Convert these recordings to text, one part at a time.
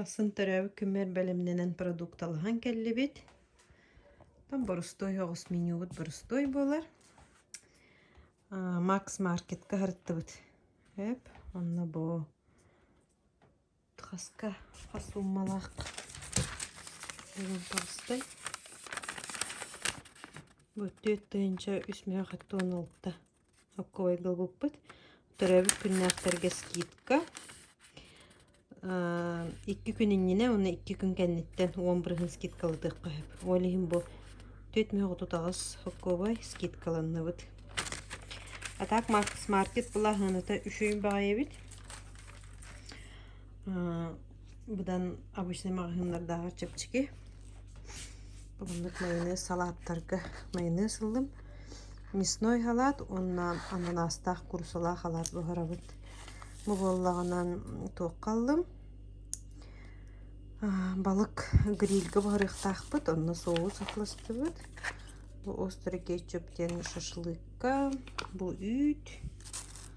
Ахсын төрөөбүт күммэр бэлэмнэнэн продукталаһан кэллибит. Там боростуой оҕус менюбут боростуой буолар. Макс маркетка харыттыбыт эп онно бу хаска хас суммалаах боростой бу төрт тыһыынча үс миллион хатта Окковойга ылбыппыт. Төрөөбүт күннээхтэргэ скидка. Икки күн иннинэ уонна икки күн кэнниттэн уон бырыһын скидкалытыахха сөп. Ол иһин бу түөрт мөһөх отут аҕыс окковой скидкаланныбыт. А так Смарт Плаһыныта үчүй баҕайыбыт. Быдан обычнай маҕаһыыннардааҕы чэпчэки. Маннык майонез салааттарга майонез ыллым. Мясной халаат уонна ананаастаах курусалаах халаат буһарабыт. Бу буоллаҕынан туохха ыллым. Балык грильгэ буһарыахтаахпыт, онно соус атластыбыт. Бу острый кетчуп диэн шашлыкка, бу үүт.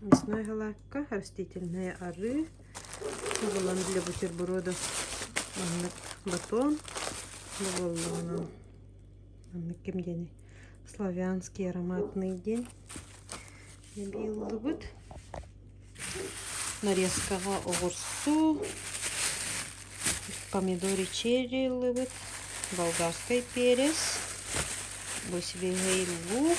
Мясной голландка, растительное арыы, ыллан для бутерброда маннык батон буоллаҕынан маннык ким диэни славянский ароматный диэн ыллыбыт. Нарезкаҕа оҕурсу, помидори черри ыллыбыт, болгарскай перец, босивиһэй лук.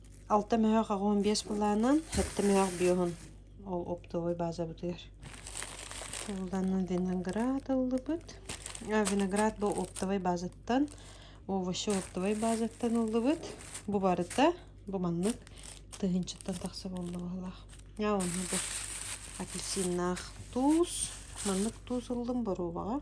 Алта мөһөөх аҕыйын биэс былаанынан, сэттэ мөһөөх биоһун ол оптовой базабытыгар ууланна виноград ыллыбыт. Виноград бу оптовой базаттан, овощи оптовой базаттан ыллыбыт. Бу барыта бу маннык тыһыынчаттан тахса буолла баһылаах. А онно бу апельсиннаах туус. Маннык туус ыллым боруобаҕа.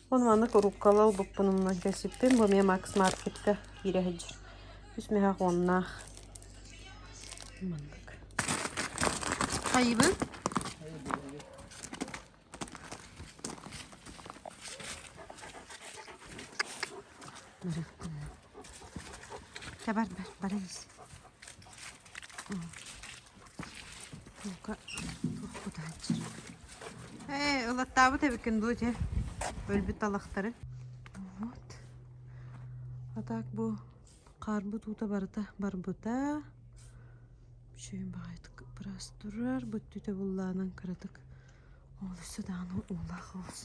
Ол маннык урууккалар ылбыппын умнан кэлсиппин, бу эмиэ Макс Маркетка киирэ сылдьар. Үс миэхэх уоннаах. Маннык. Хайыбын? Бар бар бар ис. Бука, уруккута сылдьар. Ээ, ылаттаабыт эбиккин дуу, дьэ, өлбүт талахтары. Вот. А так бу хаарбыт уута барыта барбыта. Бүчүөн баҕайытык быраас турар, бүттүтэ буллаанан кыратык олусса даҕаны уулаах олус.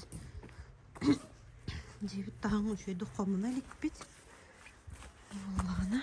Диэбит таһын үчүөйдүк хомуна иликпит. Буллаана.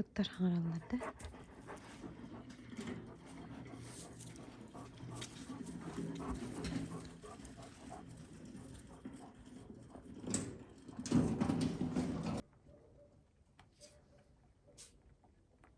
Ыттар хаҥыраллар да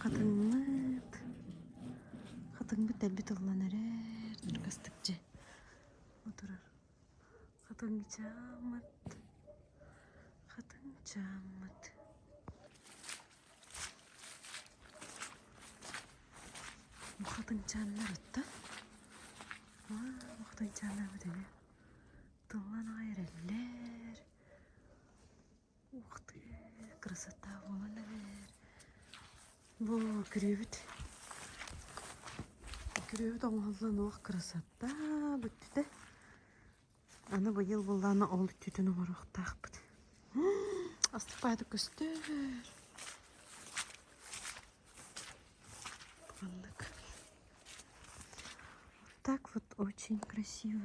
Хатыҥмыт. Хатыҥмыт дэлби тыллан эрэр. Дургастык дьэ. Отурар. Хатыҥчааммыт, хатыҥчааммыт Бу хатыҥчааннар оттон бу хатыҥчааннарбыт эмиэ тыллан аҕай эрэллэр Ух ты, красота буолан эбээр. Бу күрүөбүт күрүөбүт оҥоһуллан уох красота бүттүтэ. Аны быйыл быллаана ол өттүтүн оҥоруохтаахпыт. Астыпаайдык көстөр. Маннык. Вот так вот очень красиво.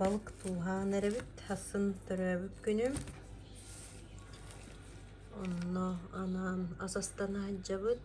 Балык тууһаан эрэбит, хассын төрөөбүт күнүм. Онно анаан ас астан аһдьабыт.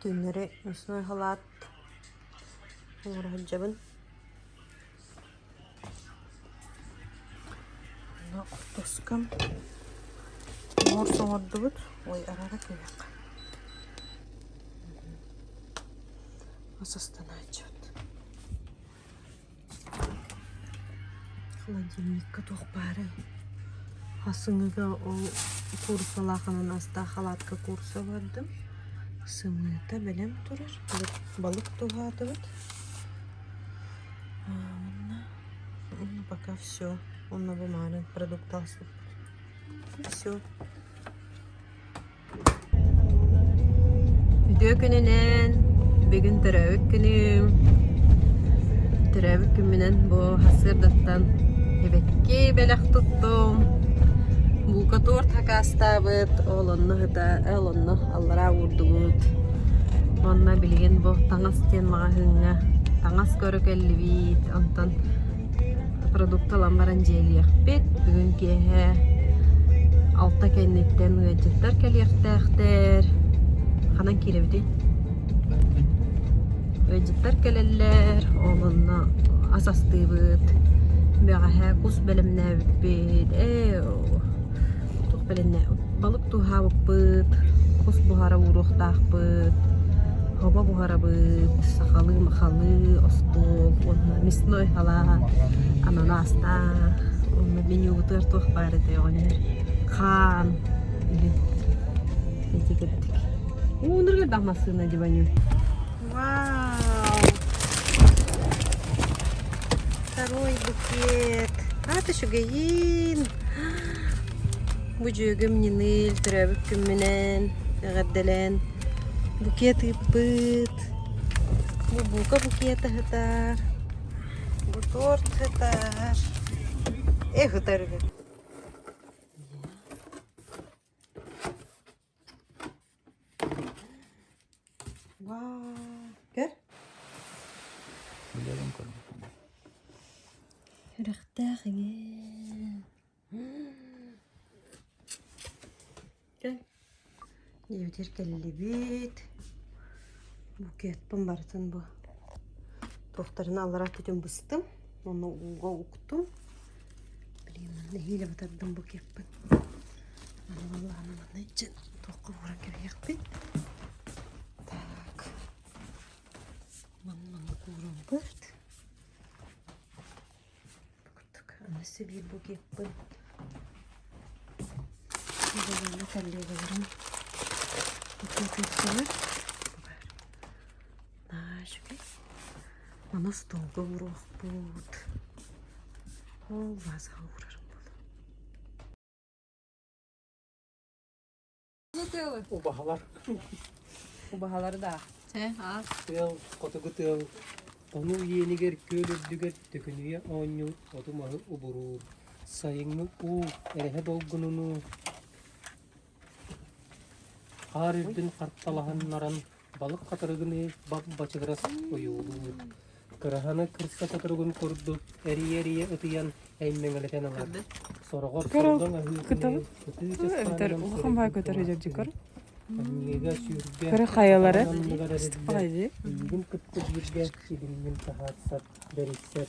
Түннэри мясной халаат оҥороһуйдьабын. Онно хортуоскам, морс оҥордубут, ой арара күһэх. Мас астанааччыт холодильникка туох баарай сымыыга ол куурусалааханан астаах халаатка кууруса бардым сымыыта бэлэм турар балык туһаатыбыт уонна пока все уонна бу мааны продукты ааспыппыт и все Үтүө күнүнэн, бүгүн төрөөбүт күнүм. Төрөөбүт күммүнэн бу сырдаттан эбэкки бэлэх туттум. Булка торт хакаастаабыт, ол онно ыта, ол онно аллараа уурдубут. Онно билигин бу таҥас диэн маҕаһыыҥҥа таҥас көрө кэллибит. Онтон продукты ылан баран дьиэлиэхпит бүгүн киэһэ алта кэнниттэн ыалдьыттар кэлиэхтээхтэр ханан киирэбитий ыалдьыттар кэлэллэр ол онно ас астыыбыт бэҕэһээ кус бэлэмнээбиппит ээ туох бэлэннэ балык туһаабыппыт, хос буһара ууруохтаахпыт, хомо буһарабыт, сахалыы махалыы остуол уонна мясной халаат, ананастаа уонна менюбутугар туох баар этэй оҕонньор хаан үһү эти кэбитик. Уунурга да массыына дебаню. Вау! Второй букет. А, ты еще гаин! Бу дьүөгүм Ньыныыл төрөөбүт күммүнэн эҕэрдэлээн букет ыыппыт. Бу бука букет ыһытар. Бу торт ыһытар. Эх ыһытар үһү. Үрэхтээх иҥэ диэбитигэр кэллибит букетпын барытын бу туохтарына аллара өттүтүн быстым уонна ууга уктум Блин, нэһиилэ батардым бу кеппин. Аны баллаһаны манна иччин туохха бууран кэбиһиэхпин. Так. Манна кууран бэрт. Аны сибиир бу кеппин. Баллаһаны коллегаларым. Букетиктылар. Наа, үчүгэй. Манас тууга уруохпут. Оо, вазаҕа уурарым буолуо. Убаһалар. Убаһалары да. Чэ, аа. Тыал, хотугу тыал. Тону иэнигэр күөл үрдүгэр төкүнүйэ оонньуур оту-маһы убуруур. Сайыҥҥы уу, эрэһэ долгунунуу. Хаар үрдүн харталаһыннаран балык хатырыгыныы бап-бачыгырас ойуулуур, кыраһаны кырса соторугун курдук эрийэ-эрийэ ытыйан эймэҥэлэтэн ылар. Сороҕор солгоҥ аһыытыныы ытыы часхаанынан суруйбуппун, аньыыга сүүргэ ананныгар эрдэ, илиигин кытта бииргэ итиннин таһаарсар, бэрисэр.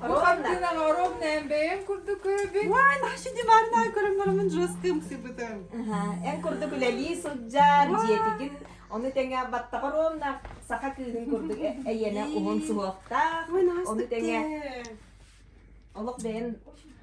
Оттынан оровнан бэйем курдук көрөбүн. Уан, шидимарнай көрөмнөрүмүн жесткым сыпытым. Эн курдук үлэлии сылдьар, дьиэтигин ону тэҥэ баттаҕа ровна саха кыыһын курдук э- эйиэнэ уһун суһуохтаах. Ону тэҥэ олох бэйэн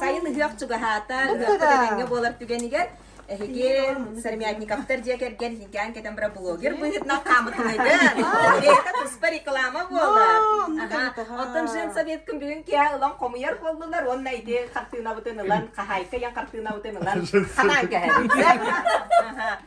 Сайын ыһыах чугаһаата, ыһыах көрөҥҥө буолар түгэнигэр Эһиги Сармятниковтар дьиэ кэргэн Никаан кэтэн бара блогер быһытынан хаамытылыгын. Река туспа реклама буолар. Оттон жен советкын бүгүн киһи ылан хомуйар боллулар уонна ити хартыынабытын ылан, хаһайка ян хартыынабытын ылан, ханан кэһэбит.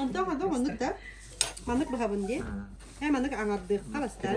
Онтон хадо маннык да маннык быһабын дии. Һэ маннык аңардыахха бастар.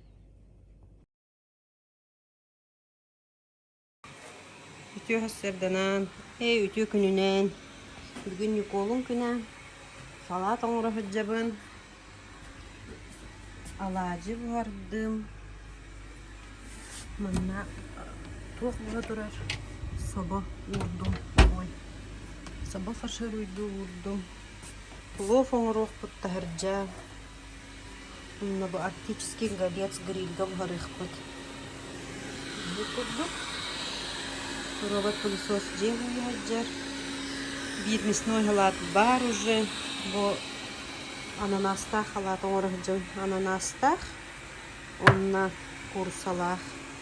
Үтүө сарсыарданаан, ээ үтүө күнүнээн, бүгүн Ньукуолун күнэ, салаат оҥоро сылдьабын, алаадьы буһардым, манна туох була турар собо уурдум, ой, собо сашируйдуу уурдум, плов оҥоруохпут таһырдьа, Онно бу Арктический голец грильга буһарыахпыт. Итинник курдук робот-пылесос дьиэ уһуйа сылдьар. Биирмисной халаат баар уже, бу ананаастаах халаат оҥоро сылдьабын. Ананаастаах уонна куурусалаах.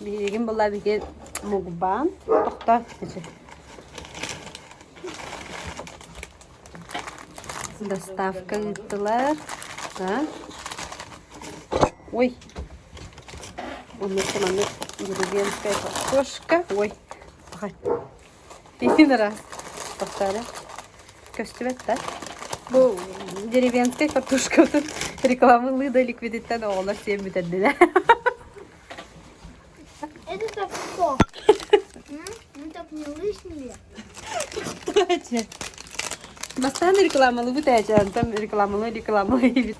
Билигин была биги мугбаан тохто доставка ыыттылар. Ой, оннук маннык деревенская кошка. Ой, Итин ыра тахсаары көстүбэт да. Бу деревенскай картошкабытын рекламалыы да ликвидиттэн оҕолор сиэн бүтэрдилэр. Это так кто? Так не лишние. Бастаан рекламалыбыт эчэ, антон рекламалыы рекламалыы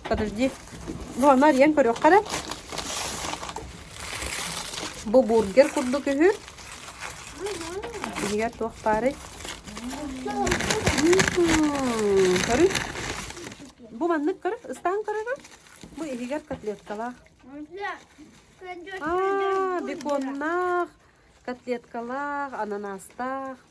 Подожди. Ну, Марьян көрүөххэ эрэ. Бу бургер курдук үһү. Биһиги туох баарый? Көрү. Бу маннык көрү. Ыстаан көрөрө. Бу иһигэр котлеткалаах. А, беконнаах, котлеткалаах, ананаастаах.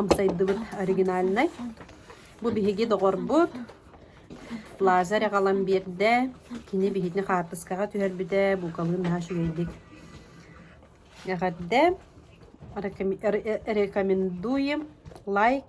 амсайдыбыт оригинальнай. Бу биһиги доҕорбут Лазарь аҕалан биэрдэ. Кини биһиги хаартыскаҕа түһэрбитэ, буукабылын наһаа үчүгэйдик эҕэрдэ. Рекомендуем лайк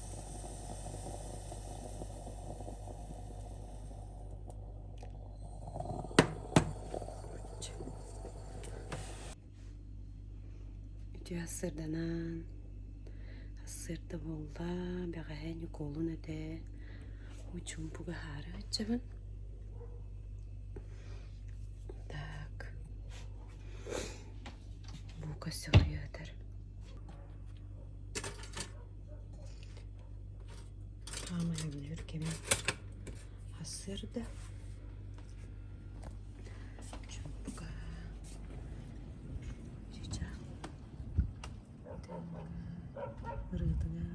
Үтүө ассырданан ассыырда буолла бэҕэһээ Ньукуолун этэ мучумпуга аһаары сылдьабын так бука сөҕүйэ сытар хааман үүнэр кэмим сарсыарда чуумпука чычах ырыытыга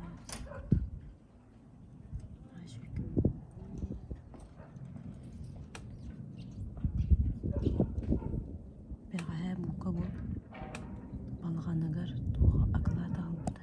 бэҕэһээ мука бу балаҕаныгар туох акылаат аҕалбыта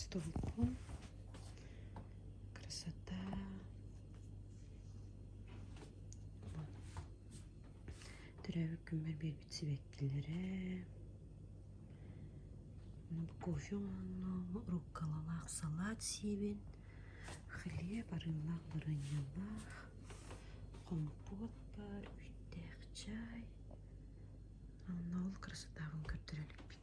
столиком красота төрөөбүт күммэр биэрбит сибэккилэрэ кофе ооннооҕу руккалалаах салат сиэбин хлеб арыылаах бараньалаах хомпуот баар үүттээх чай онно ол красотаҕын көрдөрө иликпин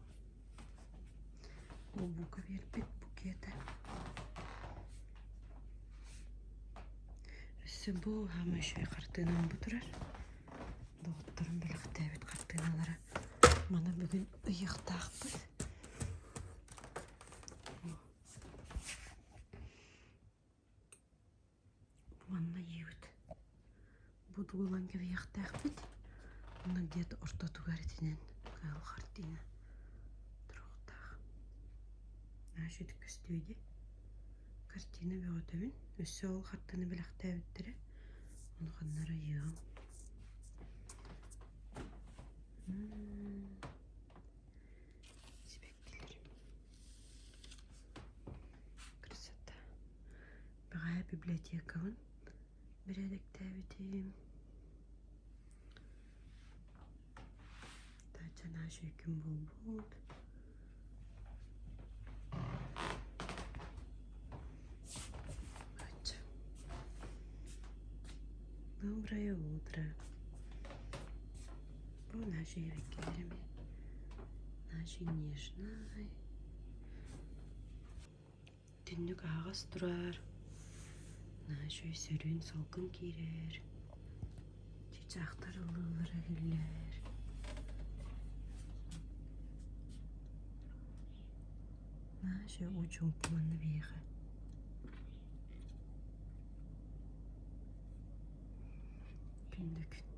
Омук биэрбит букета Өссө бу хаама үчүгэй хартыынам бу турар. Доҕотторум бэлэхтээбит хартыыналара маны бүгүн ыйыахтаахпыт. Манна ийэбит будулан кэбиһиэхтээхпит уонна дед ортотугар итинэн хаал хартыына туруохтаах Наша ити көстүө дии картина бөҕөтөбүн өссө ол хартыына бэлэхтээбиттэрэ ону ханнара ыйыам сибэккилэр красота бэҕэһээ библиотекабын бэрээдэктээбитим таача наша үкүм буолбут бачча доброе утро Бу наша эбэкээрим, наша нежнай, итинник аһаҕас турар, наша өй сөрүүн салгын киирэр, чыычаахтар ыллыыллара иһиллэр. Наша очень укуонна биһиэхэ. Күндү күн.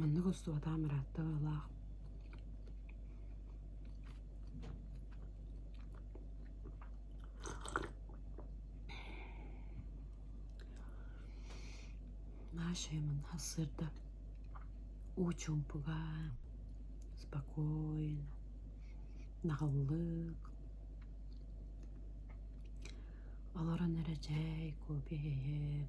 Маннык устубатаан бырааттык Нашим сырда уу чуумпуга, спокойно, наҕыллык, олорон эрэ чэй, купи иһи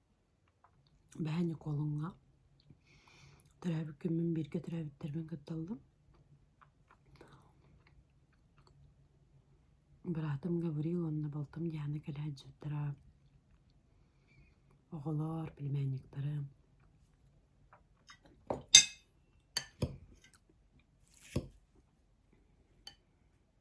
Бэһэ Ньукуолуҥҥа төрөөбүккэ мин бииргэ төрөөбүттэрбин кытталлар. Быраатым Гаврил уонна балтым Диана кэлэ сылдьыттара. Оҕолор, племянниктары.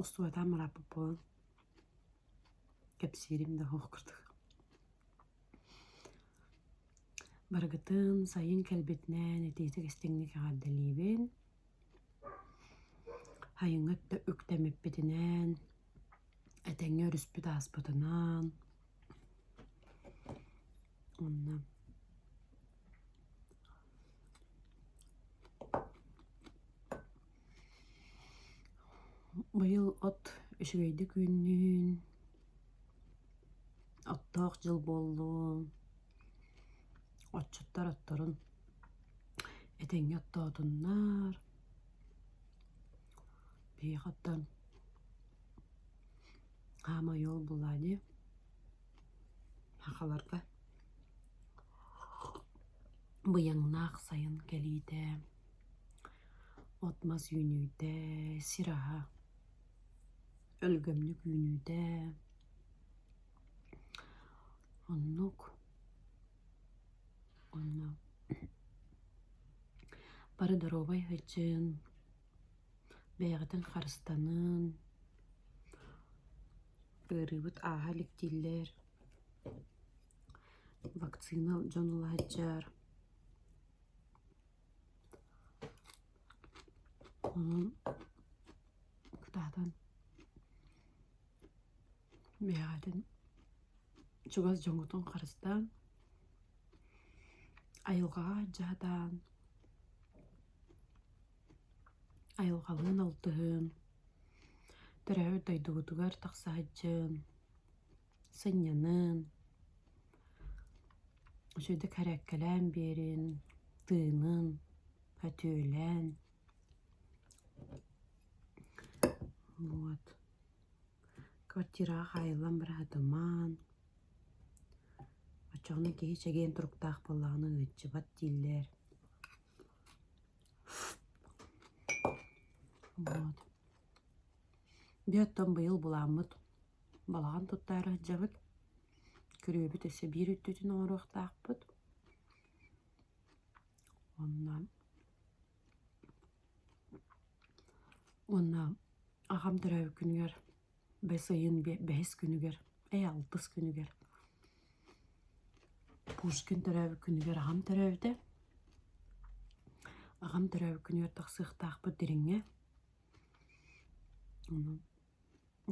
Устуойтаан бырааппыт буолан кэпсиирим да суох курдук Барыгытын сайын кэлбитинэн итиитик истиҥник эҕэрдэлиибин Сайыҥҥы өттө үктэммиппитинэн этэҥҥэ өрүспүт ааспытынан уонна Быйыл от үчүгэйдик үүннүн, оттоох дьыл буоллун, отчуттар отторун этэҥҥэ оттоотуннар. Биһиэхэ оттон хаамай уол булаа дии, сахаларга быйаҥнаах сайын кэлиитэ. От-мас үүнүүтэ, сир аһа, өлгөмнүк үүнүүтэ. Оннук. Онно бары доруобай сыдьын, бэйэҕитин харыстанын, ыарыыбыт ааһа иликтииллэр, вакцина дьон ылаһыдьар. Онон кытаатан бэйэҕитин чугас дьоҥҥутун харыстаан, айылҕаҕа дьаһатаан, айылҕалыын алтыһыан, төрөөбүт дойдугутугар тахса сылдьыан, сынньанан, үчүгэйдик эрэккэлээн биэрин, тыынын өтүөлээн вот квартираҕа хаайыллан быраһытымаан оччоҕуна киһи чэгиэн туруктаах буоллаҕына ыалдьыбат дииллэр вот бүөт тоҥ быйыл буламмыт Балаҕан туттаары сылдьабыт, күрүөбүт өссө биир үрдүтүн оҥоруохтаахпыт. Уонна уонна аҕам төрөөбүт күнүгэр бэс ыйын бэһис күнүгэр ээ алтыс күнүгэр Пушкин төрөөбүт күнүгэр аҕам төрөөбүтэ. Аҕам төрөөбүт күнүгэр тахсыахтаахпыт дириҥҥэ.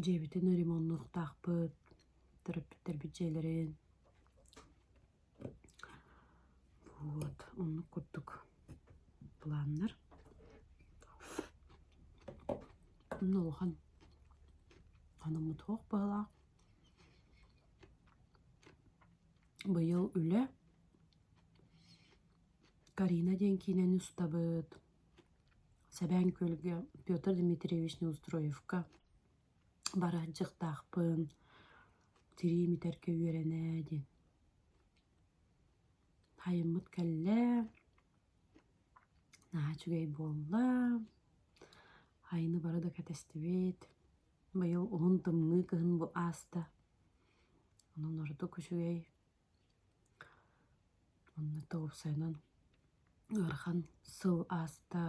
дьиэбитин ремоннуохтаахпыт, төрөппүттэрбит дьиэлэрин вот оннук курдук планнар онно улахан хонуммут суох быһалаах быйыл үлэ карина диэн киинэни устабыт Сэбээн Күөлгэ Петр Дмитриевич Неустроевка барар дьыктаахпын, тирии бүтэргэ үөрэнэ диэн. Айыммыт кэллэ, наһаа үчүгэй буолла, айыны бары да кэтэстибит, быйыл уһун тымныы кыһын бу ааста, онон ордук үчүгэй. Онно тоҕупсайынан ыарахан сыл ааста,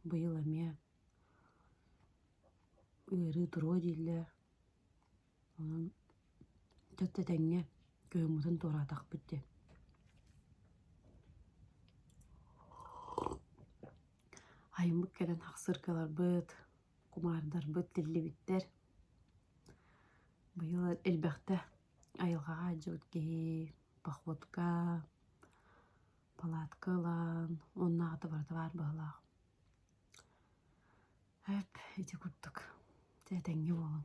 быйыл эмиэ ыарыы туруо дииллэр. Онон чэ тэтэҥҥэ кыһыммытын туораатахпыт диэн. Айыммыт кэлэн ахсыркаларбыт, кумаардарбыт тиллибиттэр. Быйыл элбэхтэ айылҕаҕа алдьабыт киһи походка палатка ылан оннооҕута барыта баар быһыылаах эт ити курдук дьэ этэҥҥэ буолуҥ